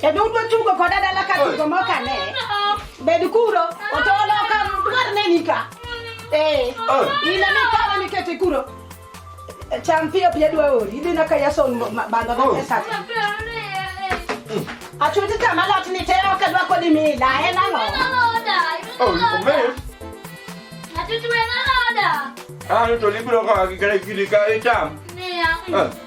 Kendo udwa tugo koda dala ka tugo moka ne. Bed kuro, otolo ka dwar ne nika. Eh, oh. ina ni kama ni kete kuro. Cham pia pia dwa ori, idhi na kaya son bando na oh. pesa. Achuti kama lot ni teo ka dwa kodi mila, en ang'o? Oh, omeyo. Achuti wena loda. Ah, to libro ka kikere kiri ka itam. Niya.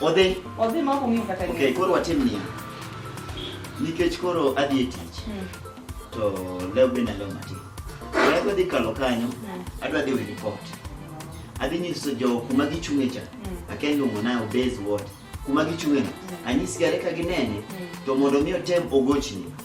Odhi. Odhi ma ok ong'eyo kata gima. Okay, koro watim niya. Nikech koro adhi e tich. Hmm. To leo be nalo matin. Adwa dhi kalo kanyo, hmm. adwa dhi wili pot. Adhi nyiso jo kuma gichung'e cha. Hmm. Akia luongo na obez what. Kuma gichung'e. Anyisgare ka ginene to mondo mi otem ogochni.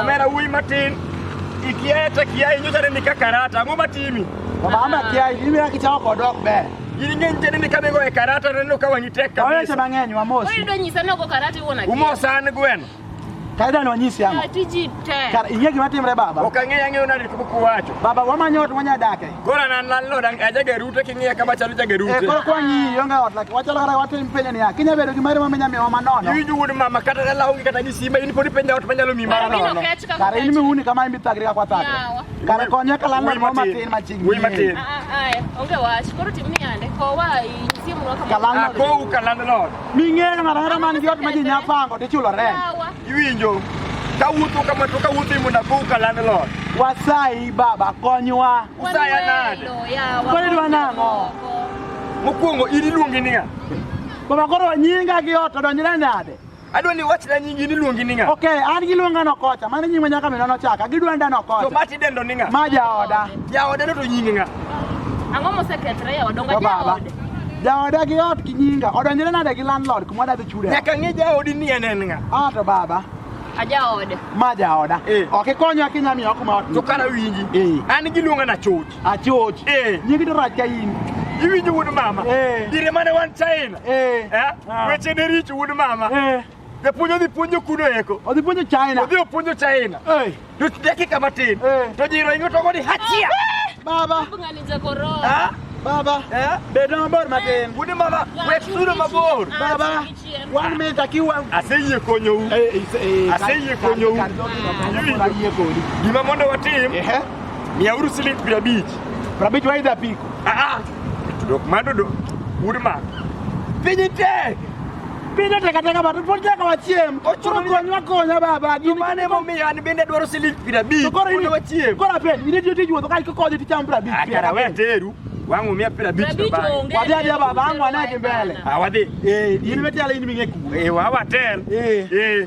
omera wuoyi matin ikiaye to kiaye nyocha ne nika karata ang'o matimi mama kiaye imira kichako kod ok ber in ng'eny tene ni kane goye karata neno ka wang'i tek kabisa oweche mang'eny wamosi oyudo nyisa nogo karata iwuon akia umosa an gweno kaida ni wanyisi yango tiji tek inge gima timre baba ok ang'eyo ang'eyo nadi kuwacho baba wamanyo ot wanyadake Koro an an landlord ang- ajageru to king'iya kama chalo jageru Eh, te. koro kwa ngi yonga ot lak wachalo kata watim penyo niya kinya bedo gi mari ma minya miwa manono Iwinjo wuod mama kata dala onge kata gi simba in pod ipenja ot manyalo mi mara Mimi nono. nokech kaka kare in kech. miuni kama imbi thagri ka kwa thagri Yawa. kare konye ka landlord Wuoyi mo matin. matin machiegni Wuoyi matin. Ah, ah, ah, eh, onge wach. Koro tim ni yande. Kowa inyisie mwa Ka kama. landlord. Akou ka landlord. ming'eyo ng'ato ang'ata man gi ot ma ji nya pango tichulo rent Yawa. Iwinjo kawuotho kama to kawuotho imo na buka landlord. Wasayi baba konywa. Usaya nade? Kwani dwa nang'o? Mokwongo in iluongi niya. Baba koro nyinga gi ot odonjre nade? Adwa ni wachna nyingi ni luongi ni ng'a? Okay, an gi luonga no kocha, mano nyinga nyaka mino no chaka, gidwa nda no kocha. To bati dendo ni ng'a? Ma jaoda. Jaoda no to nyingi ng'a? Ang'o mosekethre ya odonga jaoda? Jaoda gi ot gi nyinga odonjore nade gi landlord kuma wadadhi chude? Nyaka ng'e jaodi ni en en ng'a. Ah to baba. Ajaoda. Ma jaoda. Eh. Ok ikonyo akinya miyo kuma ot. To kana winji. Eh. An giluonga na choch. A choch. Eh. Nyingi to rach ka in. Iwinjo wuod mama. Eh. Dire mane wan China. Eh. Eh. Ah. Weche ne richo wuod mama. Eh. Japuonj odhi puonjo kuno eko. Odhi puonjo China. Odhi puonjo China. Eh. To dakika matin. Eh. To jiro ingo to godi hachia. Baba. Ngani za korona. Ah. Baba. Eh? Bedo mabor matin. Wude mama, wek sudo mabor. Baba. One minute akiwa. Aseyie konyou. Eh, eh, eh, Aseyie konyou. Gima mondo watim. Eh. Mia uru siling piero abich. Piero abich waidha piko. Ah ah. Dok mado dok. Wude mama. Piny tek. Bende tekateka batu pod nyaka wachiem. Koro konywa konya baba. Gin mane momiyo an bende adwaro siling piero abich. Koro in wachiem. Koro apen, in itiyo tij wuotho ka ikokodhi ticham piero abich. Akara we teru. Wangu mia pira bichi to ba. Wadhi adhi baba, wangu anaje mbele. Ah wadhi. Eh, in metiala in ming'e ku. Eh, wa watel. Eh. Eh.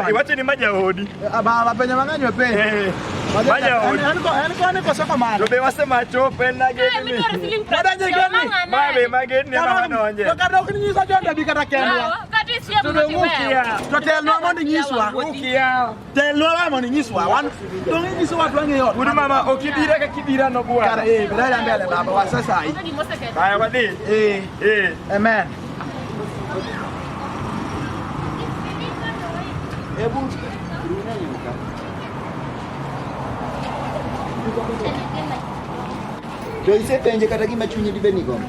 Iwacheni ma jaodi. Baba penye mang'eny wepe. Maja yaani- yaani odi. Yaani kwa niko soko mara. Tobe wase macho penda eh, geni. Bada je geni. Mabe mageni na wana onje. Toka ndo kuninyisa jonda bikata kenwa. Kati sio mmoja. Totelwa mondi nyiswa. Ukia. telolamo ni nyiswa wan donge nyiso watu ang'e ot uri mama ok ibira ka kibira no bwana kare eh bila ya mbele baba wa sasa hii haya wadhi eh eh amen hebu Ndio isepenje kata gima chunyi dibeni gombo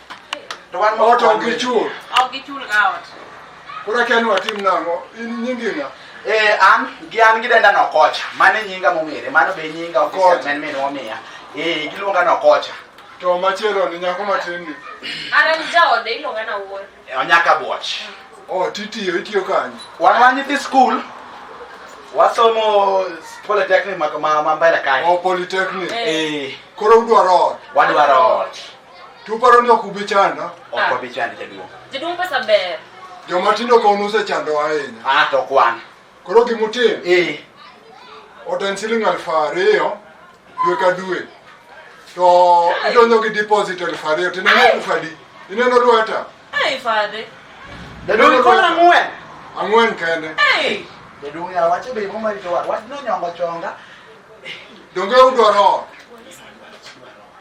To wan ma Ot ok gichul. Ok gichul ga ot. Koro akia ni watim nang'o. In nyingi ng'a? Eh, an gi an gidenda Nokocha. Mano e nyinga mong'ere. Mano be e nyinga official Okocha. man min omiya. Eh, giluonga Nokocha. To machielo ni nyako matin ni. An an jaode iluonga na wuoyi. Eh, Onyaka Bwach. Oh, titiyo, itiyo kanye? Wan wan nyithi skul. Wasomo polytechnic ma ma ma mbele kae. Oh, polytechnic. Eh, Koro udwaro ot. wadwaro ot. Tuparo ni ok ubi chanda? Ok ah. wabi chandi jaduong'. Jaduong' pesa ber. Joma tindo ka unuse chando ahinya. Ah to kwan. Koro gimutim? Eh. Oten siling alfu ariyo dwe ka dwe. To idonjo gi deposit alfu ariyo to ineno alfu adi? Ineno lweta? Ai fadhe. Jaduong' koro ang'wen. Ang'wen kende. Eh. Jaduong' ya wacho be mo marito wa. Wach no nyongo chonga. Donge udwaro ot?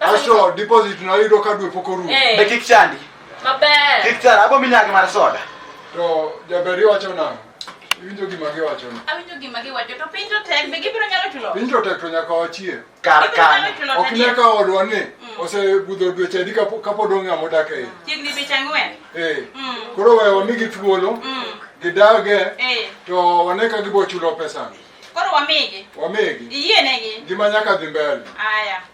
Asho deposit na yudo ka dwe pok orumo. Eh. Be kik chandi. Maber. Kik chandi, abo minyagi mar soda. To jaberi wacho nang'o? Iwinjo gima giwacho ni. Awinjo gima giwacho to piny to tek be gibiro nyalo chulo. Piny to tek to nyaka wachie. Kar Gibiro nyalo kanyo. chulo Ok tadi. ne ka odwa ni Mm. osebudho dweche adi kapo- kapod ong'e ng'ama odak e iye. Chiegni dweche ang'wen. Eh. Mm. Koro we wamigi thuolo Mm. gidage Eh. to wane ka gibo chulo pesani. Koro wamigi. Wamigi Iyienegi. ngima nyaka dhi mbele. Aya.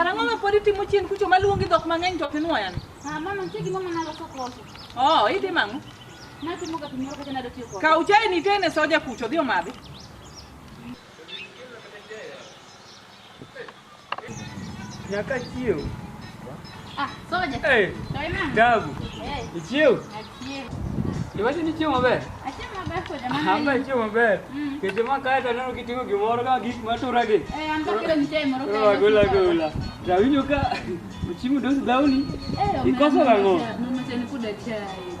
Karang'o ma pod itimo chien kucho maluongi dhok mang'eny to ok inwoyan? Ah, mama, nitie gima mama naloso koso. Oh, itimo ang'o? Natimo ga gimoro kata nado tiyo kode. Kaw chai nitene soja kucho dhi omadhi. Nyaka chiew. Ah, soja. Hey. Toima. Dagu. Hey. Ichiew. Achiew. Iwacho ni chiew maber? Achiew maber soja. Hamba chiew maber. Mm. Keche ma kae to neno kiting'o gimoro ka gik ma tura gi. Eh, an to kilo nitie moro kae. Oh, gola gola. Rawinjo ka uchimu dos dawni. Eh, ikoso rang'o? Mama tena kuda chai.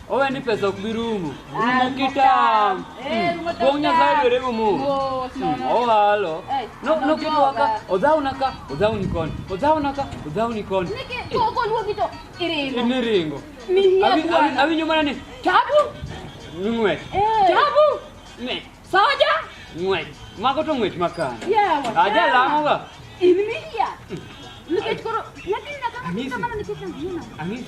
Owe ni pesa ok bi rumo. Rumo kitam. Kuom Nyasaye dwere rumo. Ohalo. No no kitu waka. Odhaw naka, odhaw ni kon. Odhaw naka, odhaw ni kon. Koko luo kito. Iringo. Ni ringo. Ni hiya. Awinyo mana ni. Tabu. Ngwe. Tabu. Ne. Soja. Ngwe. Mago to ngwech makan. Yawa. Aja lamo ga. Ini ni hiya. Nikech koro nyathi nyaka kamano nikech angina. Angina.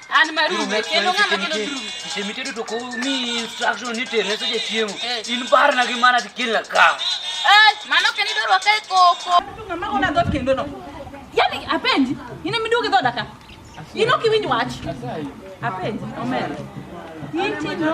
An marume, kendo ng'ama kelo durume. Kisemitedo to komi instruction ni tere seche chiemo. Eh. In parna gi mana tikelna ka. Eh, mano ok en idwaro ka e koko. Ng'ama gona dhot kendo no. Yaani apenji, in ema iduogo e dhoda ka. In ok iwinj wach. Apenji, omera. Inti no.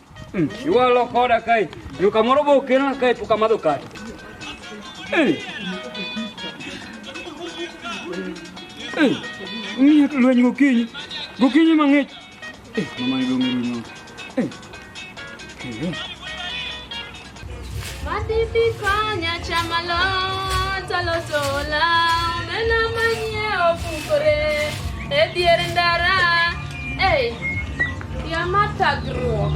Mm. Iwalo koda kai. Yo kamoro bo kelna kai puka madho kai. Mm. Mm. Ng'iyo to lweny gokinyi. Gokinyi mang'ich. Eh, mama ni dong' rumo. Eh. Eh. Madipi konya chamalo taloso law mena manyie opukore e dier ndara ei ya mar thagruok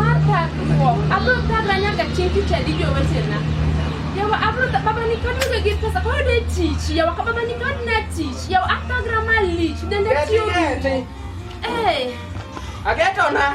mar thagruok abiro thagra nyaka chieng' tich adi jowetena yawa abiro baba ni kod onge gi pesa koro de tich yawa ka baba ni kod na tich yawa athagra malich dende tiyo duto ee Agetona.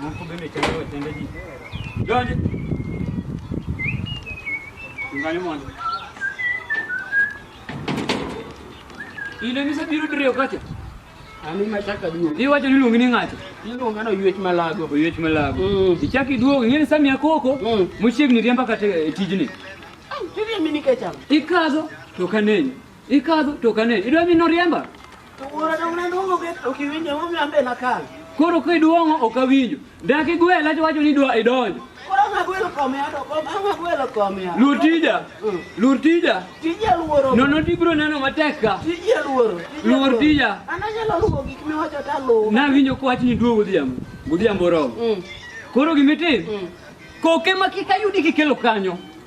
Moko be mi kende wetende ji. Donji. Ngani mondo. Ile misa biro diriyo kacha. Ani machaka duo. Iwacho ni luongi ni ng'ato. Iluonga no yuech malago. Oyuech malago. Mm. Ichak iduogo ing'e ni Samia Koko Mm. mochiegni riemba kata e tijni. Tiri mini kecha. Ikadho to kanenyo. Ikadho to ok ane. Idwa mi noriemba? To wuora dong ne duong'o bet ok iwinjo emomiyo an be nakal. Koro kiduong'o ok awinjo. Dak igwela to wacho ni idwa idonjo. Koro ang' agwelo kome ado kom ang' agwelo kome ado. Luor tija. Mm. Luor tija. Tija luoro. Nono to ibiro neno matek ka. Tija luoro. Tija Luor luoro. tija. An anyalo luwo gik miwacho to aluwo. Nawinjo ka wachni duo godhiambo. Godhiambo oromo. Mm. Koro gimitim. Mm. Koke ma kik ayudi kikelo kanyo.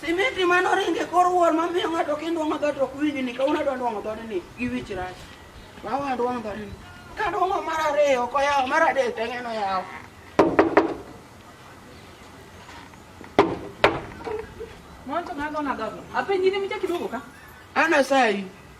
Simiti ma noringe kor wuor ma miyo ng'ato kindwa ma ng'ato ok winji ni kawuono adwa ndwang'o dhode ni gi wich rach. Ma wa ndwang'o dhode ni. Ka ndwang'o mar ariyo ok oyawo mar adek to ng'eno yawo. Mwanzo ng'ato na gago. Apenyi ni mcha kidogo ka. Ana sayi.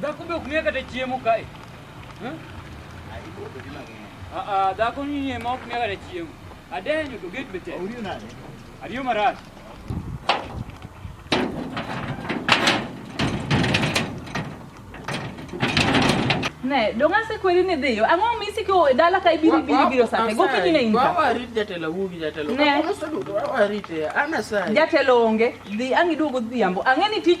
Dhako be ok miya kata chiemo kae. Hmm? Ah, ah, dhako ni ema ok miya kata chiemo. Adenyo to gate be tek. Ariyo marach. Ne, donga se kweli ni dhiyo. Ang'o misi ko dala ka ibiro ibiro ibiro sate. Go kinyi ne inka. Wawa rit jatelo wugi jatelo. Ne. Wawa rit ya. Ana sai. Jatelo onge. Dhi angi duogo dhiambo. Ang'e ni tich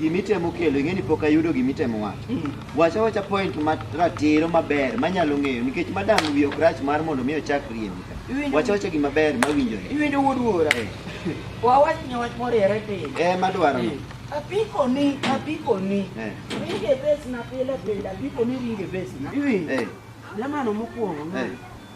gimitemo kelo ing'e ni pok ayudo gimitemo wacho mm. wacha wacha point ratiro maber manyalo ng'eyo nikech madam wi ok rach mar mondo mi ochak riembi ka wacha wacha gima ber mawinjore iwinjo wuod wuora eh. wawach ni wach moriere piny eh madwaro eh. apiko ni apiko ni eh. ringe bes na pile pile apiko ni ringe bes na iwinjo eh. lemano mokwongo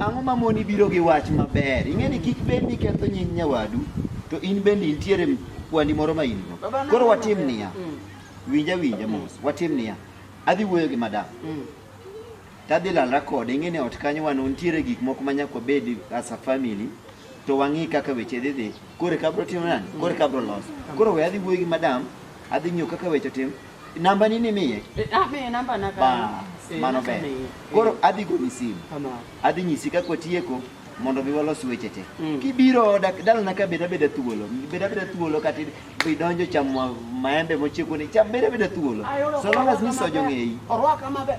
Ang'o ma moni biro gi wach maber? Ing'e ni kik bed ni ketho nying nyawadu to in bende intiere kwandi moro ma in-go. Koro watim niya, mm. winja winja mos, watim niya, adhi wuoyo gi madam. Mm. Tadhi lalra kode, ing'e ni ot kanyo wan nitiere gik moko ma nyaka wabed as a family to wang'i kaka weche dhi dhi. Koro kabro timo nani? Koro kabro loso. Mm. Koro we adhi wuoyo gi madam, adhi ng'iyo kaka weche tim. Namba nini miye? Eh, ah, miye namba na ba. Eh, mano ber. Koro eh. adhi goni simu. Adhi nyisi kaka watieko mondo mi walos weche te. Mm. Kibiro oda dalana ka beda beda thuolo. Beda beda thuolo kata idonjo chamo maembe mochieko ni cham beda beda thuolo. So long as ni sojo ng'eyi. Orwaka maber.